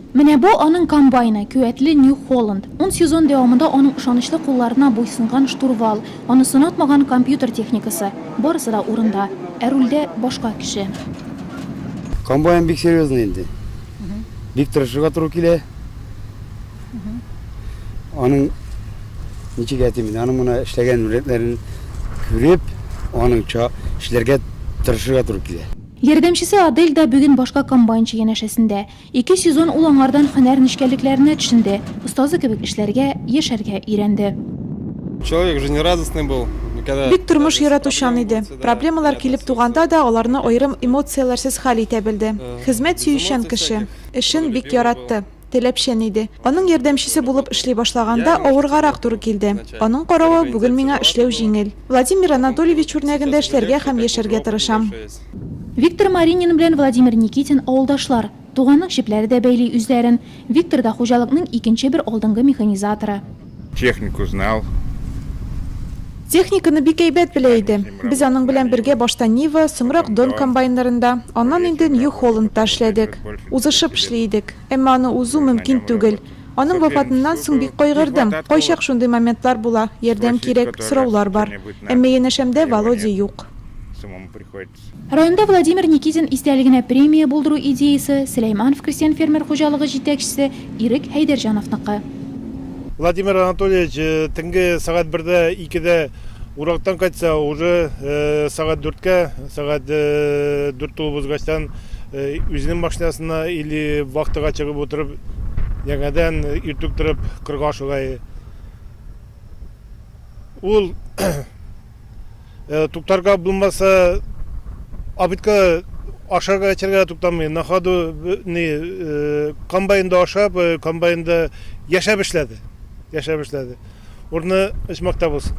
Менә бу, аның комбайны, көәтле Нью Холланд. Ун сезон дәвамында аның ышанычлы кулларына буйсынган штурвал, аны сынатмаган компьютер техникасы, барысы да урында. Ә рульдә, башка кеше. Комбайн бик серьезный инде. Бик тырышырга туры килә. Аның, ничек әйтим инде, аның менә эшләгән рүләтләрен күреп, аның ча, эшләргә тырышырга туры килә. Ярдәмчесе Адель дә бүген башка комбайнчы янәшәсендә. Ике сезон ул аңардан һөнәр нечкәлекләренә төшенде, остазы кебек эшләргә, яшәргә өйрәнде. Человек жизнерадостный был, никогда. Бик тормыш яратучан иде. Проблемалар килеп туганда да аларны аерым эмоцияләрсез хәл итә белде. Хезмәт сөючән кеше. Эшен бик яратты. Теләпчән иде. Аның ярдәмчесе булып эшли башлаганда авыргарак туры килде. Аның каравы бүген миңа эшләү җиңел. Владимир Анатольевич үрнәгендә эшләргә һәм яшәргә тырышам. Виктор Маринин белән Владимир Никитин авылдашлар. Туганлык җепләре дә бәйли үзләрен. Виктор да хуҗалыкның икенче бер алдынгы механизаторы. Техник узнал. Техниканы бик әйбәт белә иде. Без аның белән бергә башта Нива, соңрак Дон комбайннарында, аннан инде Нью Холландта эшләдек. Узышып эшли идек. Әмма аны узу мөмкин түгел. Аның вафатыннан соң бик кайгырдым. Кайчак шундый моментлар була, ярдәм кирәк, сораулар бар. Әмма янәшәмдә Володя юк. Районда Владимир Никитин истәлегенә премия булдыру идеясе Сөләйманов крестьян-фермер хуҗалыгы җитәкчесе Ирек Хәйдәрҗановныкы. Владимир Анатольевич төнге сәгать бердә, икедә урактан кайтса, уже сәгать дүрткә, сәгать дүрт тулып узгачтан үзенең машинасына или вахтага чыгып утырып, яңадан иртүк торып кырга ашыга. Ул Туктарга булмаса, абитка ашарга эчәргә туктамый. На ходу не комбайнда ашап, комбайнда яшәп эшләде. Яшәп эшләде. Урны ичмакта булсын.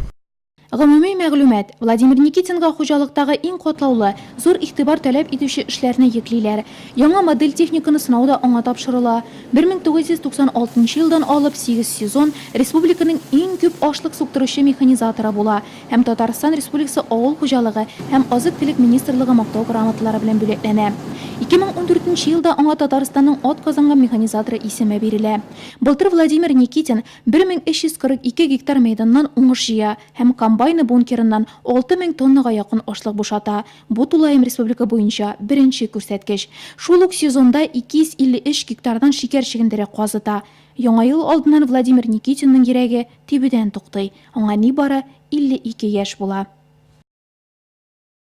Гомуми мәгълүмат, Владимир Никитинга хуҗалыктагы иң катлаулы, зур игътибар таләп итүче эшләрне йөклиләр. Яңа модель техниканы сынау да аңа тапшырыла. 1996 нчы елдан алып сигез сезон республиканың иң күп ашлык суктыручы механизаторы була һәм Татарстан Республикасы Авыл хуҗалыгы һәм азык-төлек министрлыгы Мактау грамоталары белән бүләкләнә. 2014 нче елда аңа Татарстанның атказанган механизаторы исеме бирелә. Былтыр Владимир Никитин 1342 гектар мәйданнан уңыш җыя һәм комбайны бункерыннан 6000 тоннага якын ашлык бушата, Бу тулаем республика буенча беренче күрсәткеч. Шул ук сезонда 253 гектардан шикәр чөгендере казыта. Яңа ел алдыннан Владимир Никитинның йөрәге тибүдән туктый. Аңа нибары 52 яшь була.